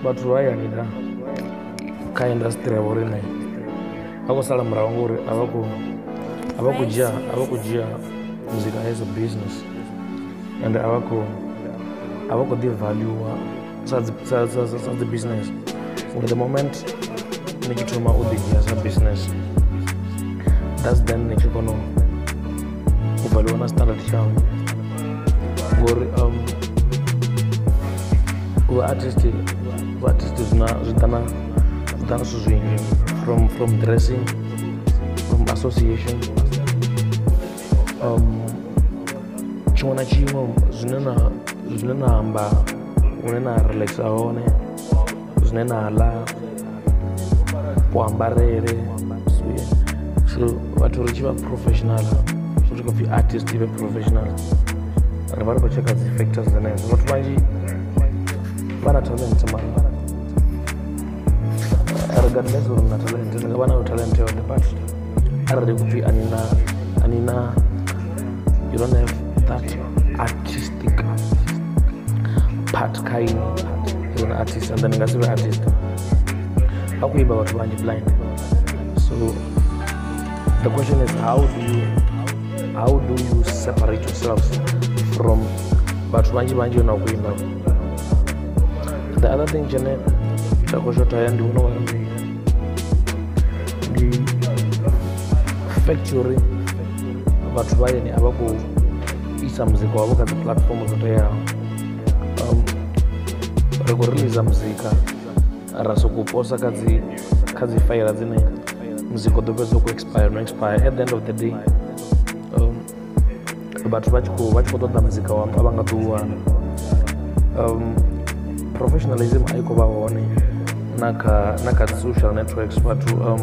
vhathu vha hayani da kha indasitiri ya vhoriṋe vha khou sala murahu ngori a vha khou a vha khou dzhia a vha khou dzhia muzika as a business and a vha khou a vha khou ḓi valuwa sa dzi sa sa sa sa dzi business from the moment ni tshi thoma u ḓi dzhia sa business that's then ni tshi kona u u valiwa na standard tshawe ngori um, u vha artist u vha artist zwina zwi ḓa na zwi ḓa na zwithu zwinzhi from from dressing from association um, tshiṅwe na tshiṅwe zwine na zwine na amba hune na relaxa hone zwine na ḽa kuambarele so vhathu ri tshi vha professional zwi tshi khou pfhi artist i vhe professional ri vha ri khou tsheka dzi factors dzenedzo vhathu vhanzhi vha na talent mara regardless uri na talent ni nga vha nayo talent yoṱhe but arali kupfi anina anina you don't have that artistic part kha ini as an artist and then nga si vhe artist vha khou imba vhathu vhanzhi blind so the question is how do you how do you separate yourselves from vhathu vhanzhi vhanzhi ona khou imba the other thing tshene tsha khou shotha ya ndi vhona ungari ndi fact uri vhathu vha yene a vha khou isa muzika wavho kha dzi platform dzo teaho um, ri khou releasa muzika ra sokou posa kha dzi kha dzi faila dzine muzika u ḓo fhedza u khou expire no expire at the end of the day vhathu vha tshi khou vha tshi khou ṱoḓa muzika wa a vha nga ḓiwana um, professionalism a i khou vha hone na kha na kha social networks vhathu um,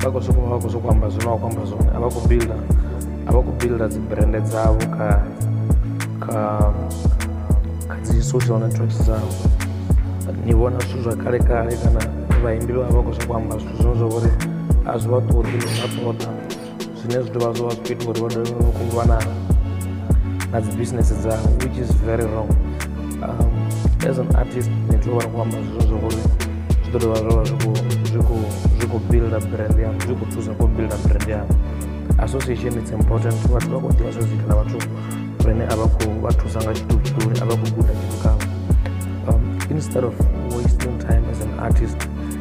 vha khou sokou vha khou sokou amba zwine wa khou amba zwone a vha khou builda a vha khou builda dzi brand dzavho kha kha kha dzi social networks dzavho ni vhona zwithu zwa kale kale kana vhaimbi vha vha khou sokou amba zwithu zwine zwa vhori a zwi vha ṱoḓi ni vha ṱoḓa zwine zwi dovha zwo vha zwi ita uri vha dovhe vha khou lwa na na dzi business dzavho which is very wrong um, as an artist ni tea u vha ri khou amba zwizwo zwa uri zwi ḓo dovha zwo vha zwi khou zwi khou zwi khou builda brand yanu zwi khou thusa khou builda brand yanu association it's important vhathu vha khou ḓivha zwa zwithu na vhathu vhane a vha khou vha thusa nga tshithu tshiṱuli a vha khou guda tshithu khavho um, instead of wasting time as an artist